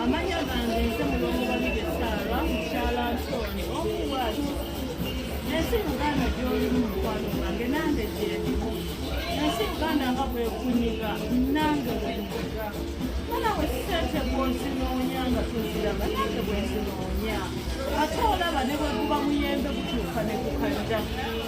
amanya gange nze mulongo babiri esaala mukyala nsoni omuwazi ensi uganda gyoli mu mukwano gwange nange gyendi ensi uganda nga bwekunyiga nange bwenyiga mana wesente bwozinoonya nga tuziraba nange bwezinoonya ate olaba ne bweguba muyembe gutuuka ne gukadda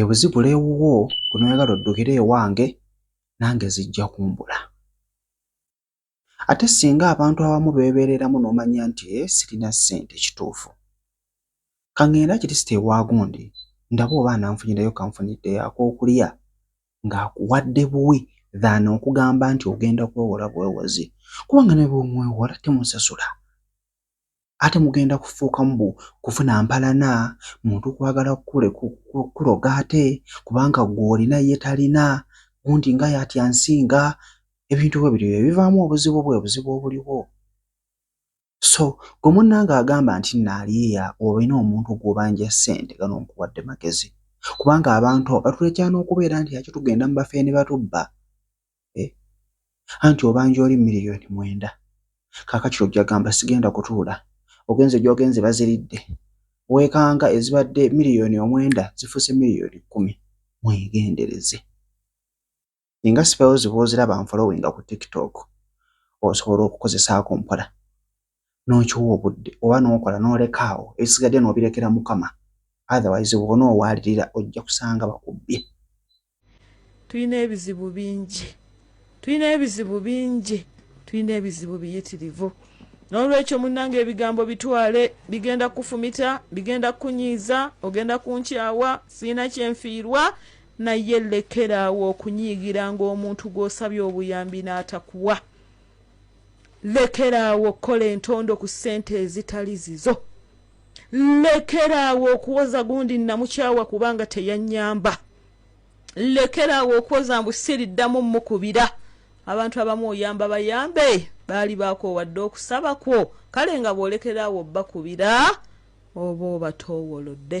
ebuzibula ewuwo gwe noyagala oddukire ewange nange zijja kumbula ate singa abantu abamu beebeereramu n'omanya nti e sirina ssente kituufu kaŋŋenda kirisita ewagundi ndaba oba ananfunyirayo kanfunidde yakookulya ng'akuwadde buwi than okugamba nti ogenda kwewola bwewozi kubanga ne bwemwewola temusasula ate mugenda kufuuka mbu kufuna mpalana muntu kwagala kukuloga ate kubanga gwe olina ye talina gundi nga yatya nsinga ebintu bwe bityo ebivaamu obuzibu bwe buzibu obuliwo so gwe munnanga agamba nti naaliya olina omuntu gwobanja ssente gano nkuwadde magezi kubanga abantu batulekya n'okubeera nti aki tugenda mu bafeeni batubba eh, anti obanja oli miliyoni mwenda kakati ojja gamba sigenda kutuula ogenze gyogenze baziridde wekanga ezibadde miliyoni omwenda zifuse miliyoni kumi mwegendereze inga sipewo zibwoziraba nfolowinga ku tiktok osobola okukozesaako mpola n'okiwa obudde oba n'okola n'oleka awo ebisigadde n'obirekera Mukama otherwise bw'ona owaalirira ojja kusanga bakubbye. Tulina ebizibu bingi tulina ebizibu bingi tulina ebizibu biyitirivu n'olwekyo munnange ebigambo bitwale bigenda kukufumita bigenda kukunyiiza ogenda kunkyawa sirina kye nfiirwa naye lekera awo okunyiigira ng'omuntu gw'osabye obuyambi n'atakuwa. Lekeraawo okukola entondo ku ssente ezitali zizo. Lekeraawo okuwoza gundi nnamukyawa kubanga teyannyamba. Lekeraawo okuwoza mbu siriddamu mmukubira. Abantu abamu oyamba bayambe baali baakoowa dda okusaba kwo kale nga bw'olekeraawo obbakubira oba obatoowolodde.